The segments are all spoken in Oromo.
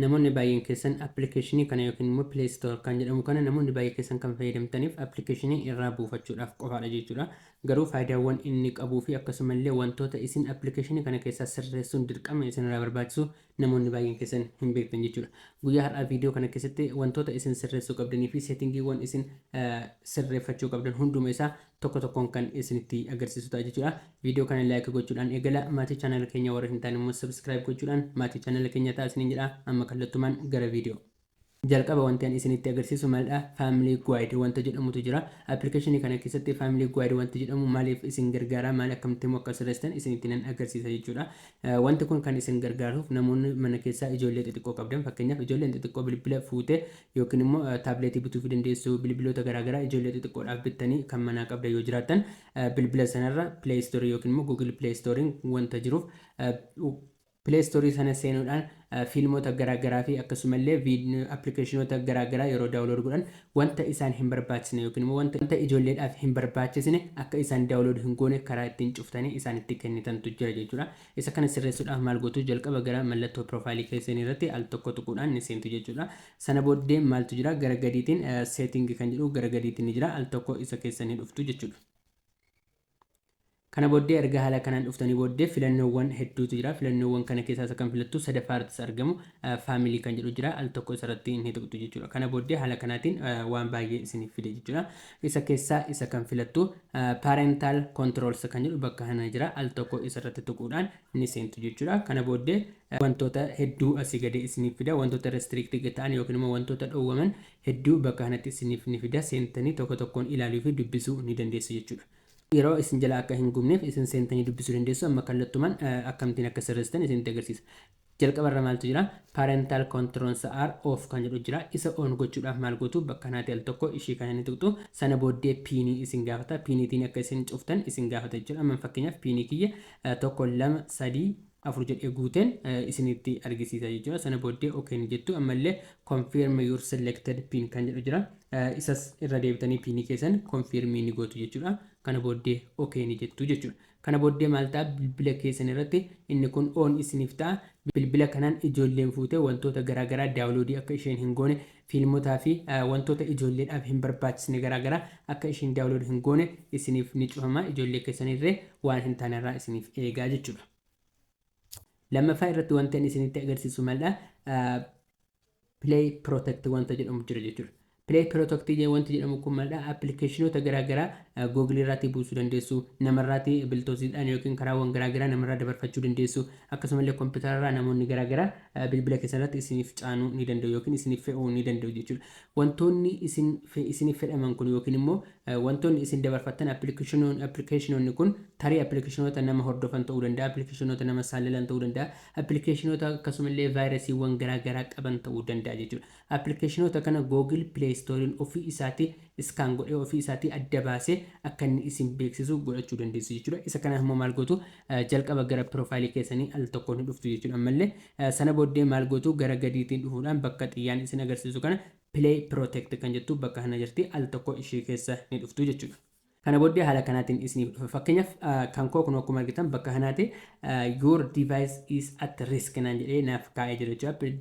Namoonni baay'een keessan appilikeeshinii kana yookiin immoo play store kan jedhamu kana namoonni baay'ee keessan kan fayyadamtaniif appilikeeshinii irraa buufachuudhaaf qofaadha jechuudha. Garuu faayidaawwan inni qabuu fi akkasuma illee wantoota isin appilikeeshinii kana keessaa sirreessuun dirqama isin irraa barbaachisu namoonni baay'een keessan hin beektan jechuudha. Guyyaa har'aa viidiyoo kana keessatti wantoota isin sirreessuu qabdanii fi seetingiiwwan isin sirreeffachuu qabdan hunduma isaa tokko tokkoon kan isinitti agarsiisu ta'a jechuudha. Viidiyoo kana like gochuudhaan eegala. Maatii channel keenya warra hin taane immoo subscribe gochuudhaan maatii channel keenya ta'a isiniin jedha. Amma kallattumaan gara viidiyoo. Jalqaba wanti ani isinitti agarsiisu maalidha? Family Guide wanta jedhamutu jira. Application kana keessatti Family Guide wanti jedhamu maaliif isin gargaara? Maal akkamitti immoo akka sirreessitan isinitti nan agarsiisa jechuudha. Wanti kun kan isin gargaaruuf namoonni mana keessaa ijoollee xixiqqoo qabdan fakkeenyaaf ijoolleen xixiqqoo bilbila fuutee Yookiin immoo taableetii bituufii dandeessu, bilbiloota garaa garaa ijoollee xixiqqoodhaaf bittanii kan manaa qabdan yoo jiraattan, bilbila sanarra Play Store yookiin immoo Google Play Store'n wanta jiruuf, Play Store sana seenuudhaan fiilmoota garaa garaa fi akkasuma illee appilikeeshinoota garaa garaa yeroo download godhan wanta isaan hin barbaachisne yookiin immoo wanta ijoolleedhaaf hin barbaachisne akka isaan download hin goone karaa ittiin cuftanii isaanitti kennitantu jira jechuudha. Isa kana sirreessuudhaaf maal gootu? Jalqaba gara mallattoo piroofaayilii keessanii irratti al tokko tuquudhaan ni seentu jechuudha. Sana booddee maaltu jira? Gara gadiitiin seetingi kan jedhu gara gadiitiin ni jira. Al tokko isa keessa ni dhuftu jechuudha. Kana booddee erga haala kanaan dhuftanii booddee filannoowwan hedduutu jira. Filannoowwan kana keessaa isa kan filattu sadaffaa irrattis argamu faamilii kan jedhu jira. Al tokko isarratti ni tuqxu jechuudha. Kana booddee haala kanaatiin waan baay'ee isiniif fide jechuudha. Isa keessaa isa kan filattu Parental Controls kan jedhu bakka kana jira. Al tokko isa irratti tuquudhaan ni seentu jechuudha. Kana booddee wantoota hedduu asii gadee isiniif fida. Wantoota restricted ta'an yookiin immoo wantoota dhowwaman hedduu bakka kanatti isiniif ni fida. Seentanii tokko tokkoon ilaaluu fi dubbisuu ni dandeessu jechuudha. Yeroo isin jalaa akka hin gubneef isin seentanii dubbisuu dandeessu. Amma kallattumaan akkamittiin akka sirreessitan isinitti agarsiisa. Jalqaba irra maaltu jira? Parental controls are off kan jedhu jira. Isa on gochuudhaaf maal gootu? Bakka naati al tokko ishii kana ni tuqxu. Sana booddee piinii isin gaafata. Piiniitiin akka isin cuftan isin gaafata jechuudha. Amma fakkeenyaaf piinii kiyya tokko lama sadii afur jedhee guuteen isinitti argisiisa jechuudha. Sana booddee ok ni jettu. Ammallee confirm your selected pin kan jedhu jira. Isas irra deebitanii piinii keessan confirm ni gootu jechuudha. Kana booddee ok ni jettu jechuudha. Kana booddee maal ta'a bilbila keessan irratti inni kun on isiniif ta'a. Bilbila kanaan ijoolleen fuutee wantoota garaa garaa daawloodii akka isheen hin goone, fiilmotaa fi wantoota ijoolleedhaaf hin barbaachisne garaa garaa akka isheen daawlood hin goone isiniif ni cufama. Ijoollee keessan irree waan hin taane irraa isiniif eegaa jechuudha. Lammaffaa irratti wanti ani isinitti agarsiisu maldha? play protect wanta jedhamu jira jechuudha. Play protect wanti jedhamu kun maalidha? Appilikeeshinoota garaagaraa Google irraatii buusuu dandeessu, namarraatii biltoosiidhaan yookiin karaawwan garaagaraa namarraa dabarfachuu dandeessu, akkasumallee kompiitara irraa namoonni garaagaraa bilbila keessan irratti isiniif caanuu ni danda'u yookiin isiniif fe'uu ni danda'u jechuudha. Wantoonni isin isiniif fedhaman kun yookiin immoo wantoonni isin dabarfattan appilikeeshinoonni kun tarii appilikeeshinoota nama hordofan ta'uu danda'a, appilikeeshinoota nama saallalan ta'uu danda'a, Appilikeeshinoota akkasuma illee vaayirasiiwwan garaa garaa qaban ta'uu danda'a jechuudha. Appilikeeshinoota kana Google Play Store'n ofii isaatii iskaan godhee ofii isaatii adda baasee akka inni isin beeksisu godhachuu dandeessu jechuudha. Isa kanaaf immoo maal gootu jalqaba gara piroofaayilii keessanii al tokkoon ni dhuftu jechuudha. Ammallee sana booddee maal gootu gara gadiitiin dhufuudhaan bakka xiyyaan isin agarsiisu kana Play Protect kan jettu bakka kana jirti al tokko ishee keessa ni dhuftu jechuudha. Kana booddee haala kanaatiin isiniif dhufa. Fakkeenyaaf kan koo kunoo akkuma argitan bakka kanaati your device is at risk naan jedhee naaf kaa'ee jira jechuudha.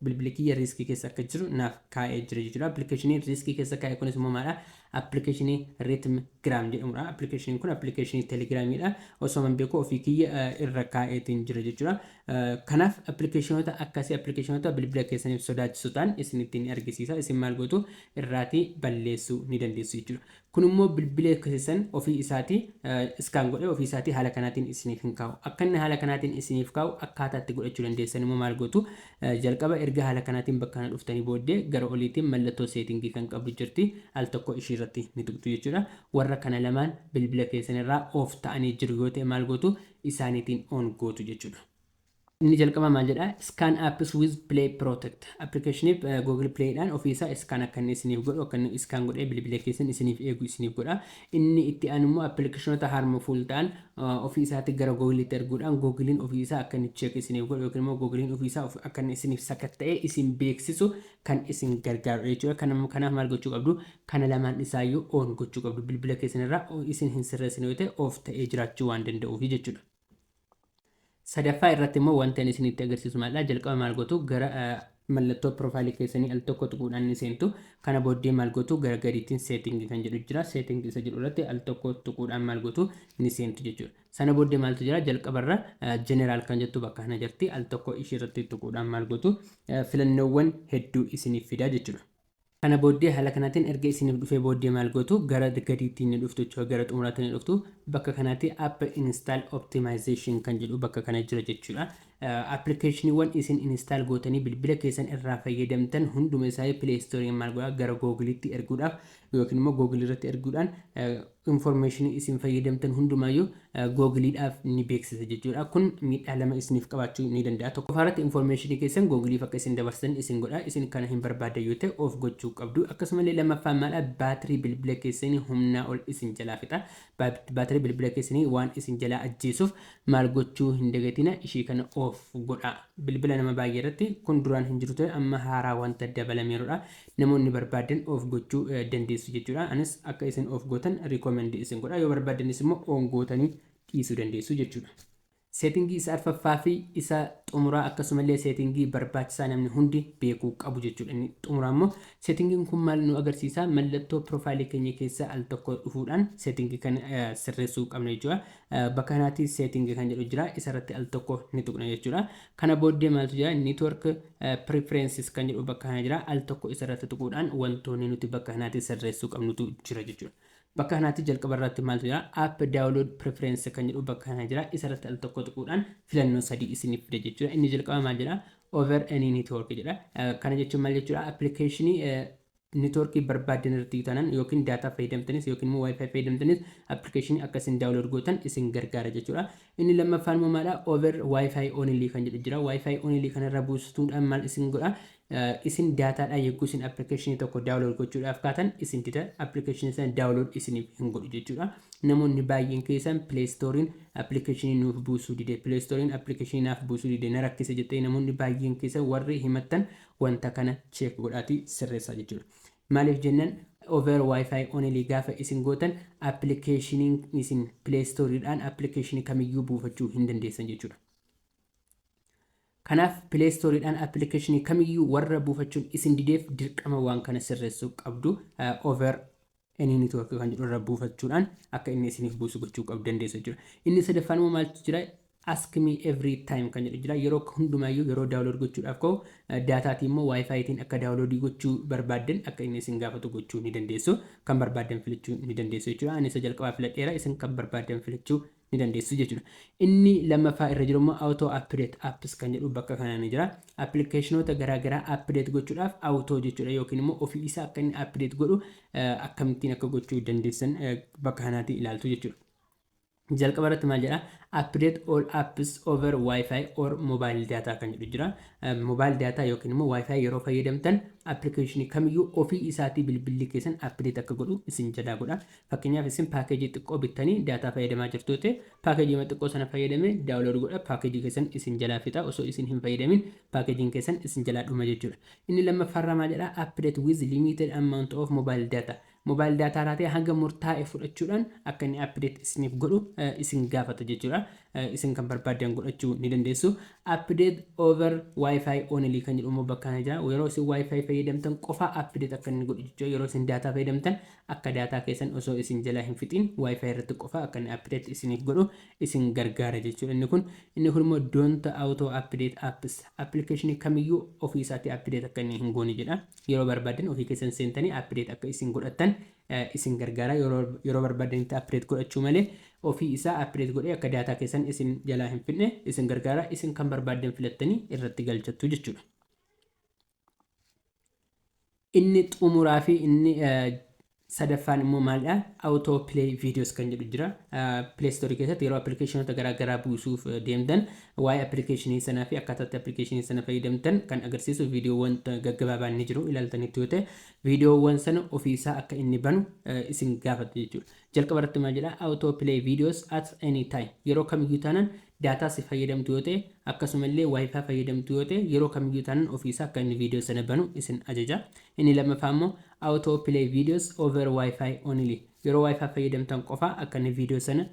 Bilbili kiyya riiskii keessa akka jiru naaf kaa'ee jira jechuudha. Appilikeeshiniin riiskii keessa kaa'e kunis immoo maalidha? Appilikeeshinii Rhythm Gram jedhamudha. Appilikeeshiniin kun appilikeeshinii Telegiraamiidha. Osoo man beeku ofii kiyya irra kaa'eetiin jira jechuudha. Kanaaf appilikeeshinoota akkasii appilikeeshinoota bilbila keessaniif sodaachisu ta'an isinittiin argisiisa. Isin maal gootu irraatii balleessuu ni dandeessu jechuudha. Kun immoo bilbilee kesesan ofii isaati scan godhee ofii isaati haala kanaatiin isiniif hin kaa'u. Akka inni haala kanaatiin isiniif kaa'u akkaataa itti godhachuu dandeessan immoo maal gootu jalqaba erga haala kanaatiin bakka kana dhuftanii booddee gara oliitiin mallattoo seetingii kan qabdu jirti al tokko ishii irratti ni tuqxu jechuudha. Warra kana lamaan bilbila keessan irraa off ta'anii jiru yoo ta'e maal gootu isaaniitiin on gootu jechuudha. Inni jalqabaa maal jedhaa scan apps with play protect application google play dhaan ofii isaa scan akka inni isiniif godhu akka inni scan godhee bilbila keessan isiniif eegu isiniif godha inni itti aanu immoo appilikeeshinoota harmful ta'an ofii isaatti gara google itti erguudhaan google'n ofii isaa akka inni check isiniif godhu yookiin immoo google'n ofii isaa akka inni isiniif sakatta'ee isin beeksisu kan isin gargaarudha jechuudha kanaaf kanaaf maal gochuu qabdu kana lamaan isaayyuu on gochuu qabdu bilbila keessan irraa isin hin sirreessine yoo ta'e of ta'ee jiraachuu waan danda'uuf jechuudha Sadaffaa irratti immoo wanta inni isinitti agarsiisu maalidha? Jalqaba maal gootu? Gara mallattoo piroofaayilii keessanii al tokko tuquudhaan ni seentu. Kana booddee maal gootu? Gara gadiitiin seetingii kan jedhu jira. Seetingii isa jedhu irratti al tokko tuquudhaan maal gootu? Ni seentu jechuudha. Sana booddee maaltu jira? Jalqabarra jeneraal kan jettu bakka kana jirti. Al tokko ishii irratti tuquudhaan maal gootu? Filannoowwan hedduu isiniif fida jechuudha. Kana booddee haala kanaatiin erga isiniif dhufee booddee maal gootu gara gadiitti ni dhuftu jechuudha gara xumuraatti ni dhuftu bakka kanaatti app install optimization kan jedhu bakka kana jira jechuudha appilikeeshiniiwwan isin install gootanii bilbila keessan irraa fayyadamtan hunduma isaa play store maal godha gara googiliitti erguudhaaf yookiin immoo googilii irratti erguudhaan Information isin fayyadamtan hundumaayyuu Google dhaaf ni beeksisa jechuudha. Kun miidhaa lama isiniif qabaachuu ni danda'a. Tokkoffaa irratti information keessan Google'f akka isin dabarsitan isin godha. Isin kana hin barbaaddan yoo ta'e off gochuu qabdu. Akkasuma illee lammaffaan maal dha? Baatirii bilbila keessanii humnaa ol isin jalaa fixa. Baatirii bilbila keessanii waan isin jalaa ajjeesuuf maal gochuu hin dagatina ishii kana off godhaa. Bilbila nama baay'ee irratti kun duraan hin jiru ture amma haaraa wanta dabalameerudha. Namoonni barbaaddan off gochuu dandeessu jechuudha. Anis akka isin off gootan recommend isin godha. Yoo barbaaddanis immoo on gootanii dhiisuu dandeessu jechuudha. Seetingii isa arfaffaa fi isa xumuraa akkasumallee seetingii barbaachisaa namni hundi beekuu qabu jechuudha. Inni xumuraa immoo seetingiin kun maal nu agarsiisa? Mallattoo piroofaayilii keenya keessa al tokko dhufuudhaan seetingii kana sirreessuu qabna jechuudha. Bakka kanaatti seetingii kan jedhu jira. Isarratti al tokko ni tuqna jechuudha. Kana booddee maaltu jira? Network Preferences kan jedhu bakka kana jira. Al tokko isa irratti tuquudhaan wantoonni nuti bakka kanaatti sirreessuu qabnutu jira jechuudha. Bakka kanaatti jalqaba irratti maaltu jira? App download preference kan jedhu bakka kana jira. Isa irratti al tokko tuquudhaan filannoo sadii isiniif fida jechuudha. Inni jalqaba maal jedha? Over any network jedha. Kana jechuun maal jechuudha? Appilikeeshinii Network barbaaddan irratti yoo taanan yookiin data fayyadamtanis yookiin immoo wifi fayyadamtanis application akka isin download gootan isin gargaara jechuudha. Inni lammaffaan immoo maadha over wifi only kan jedhu jira. Wifi only kana irra buustuudhaan maal isin godha? Isin data dhaan yogguu isin application tokko download gochuudhaaf kaatan isin dida application sana download isiniif hin godhu jechuudha. Namoonni baay'een keessan play store'n application nuuf buusuu dide play store'n application naaf buusuu dide na rakkise jettee namoonni baay'een keessan warri himattan wanta kana check godhaatii sirreessaa jechuudha. Maaliif jennan over wifi only gaafa isin gootan application isin play store dhaan application kamiyyuu buufachuu hin dandeessan jechuudha. Kanaaf play store dhaan application kamiyyuu warra buufachuun isin dideef dirqama waan kana sirreessuu qabdu over Any network kan jedhu irra buufachuudhaan akka inni isiniif buusu gochuu qabdu dandeessu jechuudha. Inni sadaffaan immoo maaltu jira? Ask me every time kan jedhu jira. Yeroo hundumaayyuu yeroo daawulood gochuudhaaf ka'u daataatiin immoo waayifaayitiin akka daawuloodii gochuu barbaaddan akka inni isin gaafatu gochuu ni dandeessu. Kan barbaaddan filachuu ni dandeessu jechuudha. Ani isa jalqabaa filadheera. Isin kan barbaaddan filachuu ni dandeessu jechuudha. Inni lammaffaa irra jiru immoo auto update apps kan jedhu bakka kanaa ni jira. Appilikeeshinoota garaagaraa update gochuudhaaf auto jechuudha yookiin immoo ofii isaa akka inni update godhu akkamittiin akka gochuu dandeessan bakka kanaatii ilaaltu jechuudha. Jalqaba irratti maal jedha? Update all apps over wifi or mobile data kan jedhu jira. Mobile data yookiin immoo wifi yeroo fayyadamtan appilikeeshinii kamiyyuu ofii isaatii bilbilli keessan update akka godhu isin jalaa godha. Fakkeenyaaf isin paakeejii xiqqoo bittanii daataa fayyadamaa jirtuu ta'e, paakeejiima xiqqoo sana fayyadamee download godha paakeejii keessan isin jalaa fixa osoo isin hin fayyadamin paakeejiin keessan isin jalaa dhuma jechuudha. Inni lammaffaarraa maal jedha update with limited amount of mobile data mobile data irraa ta'e hanga murtaa'e fudhachuudhaan akka inni update isiniif godhu isin gaafata jechuudha. Isin kan barbaaddan godhachuu ni dandeessu. Update over wifi only kan jedhu immoo bakka kana jira. Yeroo isin wifi fayyadamtan qofa update akka inni godhu jechuudha. Yeroo isin daataa fayyadamtan Akka daataa keessan osoo isin jalaa hin fixiin WiFi irratti qofa akka inni update isiniif godhu isin gargaara jechuudha inni kun. Inni kun immoo don't auto update apps application kamiyyuu ofii isaatii update akka inni hin goone jedha. Yeroo barbaaddan ofii keessan seentanii update akka isin godhattan isin gargaara. Yeroo yeroo barbaaddanitti update godhachuu malee ofii isaa update godhee akka daataa keessan isin jalaa hin fixne isin gargaara. Isin kan barbaaddan filattanii irratti galchattu jechuudha. Inni xumuraa fi inni sadaffaan immoo maalidha? Auto play videos kan jedhu jira. Play store keessatti yeroo appilikeeshinoota garaa garaa buusuuf deemtan waa'ee appilikeeshinii sanaa fi akkaataatti appilikeeshinii sana fayyadamtan kan agarsiisu viidiyoowwan gaggabaabaan ni jiru ilaaltanitti yoo ta'e viidiyoowwan sana ofiisaa akka inni banu isin gaafata jechuudha. Jalqaba irratti maal jedha auto play videos at any time yeroo kamiyyuu taanan daataa si fayyadamtu yoo ta'e akkasuma illee wifi fayyadamtu yoo ta'e yeroo kamiyyuu taanan ofii isaa akka inni video sana banu isin ajaja inni lammaffaa immoo auto play videos over wifi only yeroo wifi fayyadamtan qofaa akka inni video sana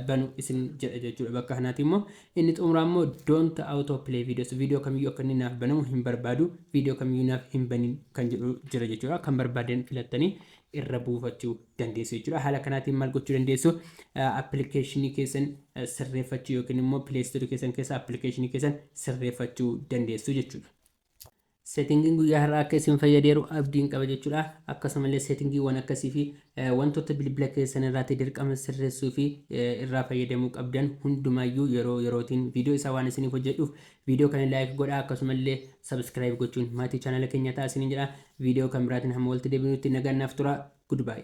banu isin jedha jechuudha bakka kanaati immoo inni xumuraa immoo don't auto play videos video kamiyyuu akka inni naaf banamu hin barbaadu video kamiyyuu naaf hin banin kan jedhu jira jechuudha kan barbaadan filattanii irra buufachuu dandeessu jechuudha. Haala kanaatiin maal gochuu dandeessu? Appilikeeshinii keessan sirreeffachuu yookiin immoo pileestoorii keessan keessa appilikeeshinii keessan sirreeffachuu dandeessu jechuudha. Seetingiin guyyaa har'aa akka isin fayyadeeru abdiin qaba jechuudha. Akkasumallee seetingiiwwan akkasii fi wantoota bilbila keessan irraatti dirqama sirreessuu fi irraa fayyadamuu qabdan hundumaayyuu yeroo yerootiin viidiyoo isaa waan isiniif hojjedhuuf Video kana like godhaa akkasumallee subscribe gochuun maatii channel keenyaa ta'aa isiniin jedha. Video kan biraatiin hamma walitti deebinutti nagaan naaf turaa. Goodbye.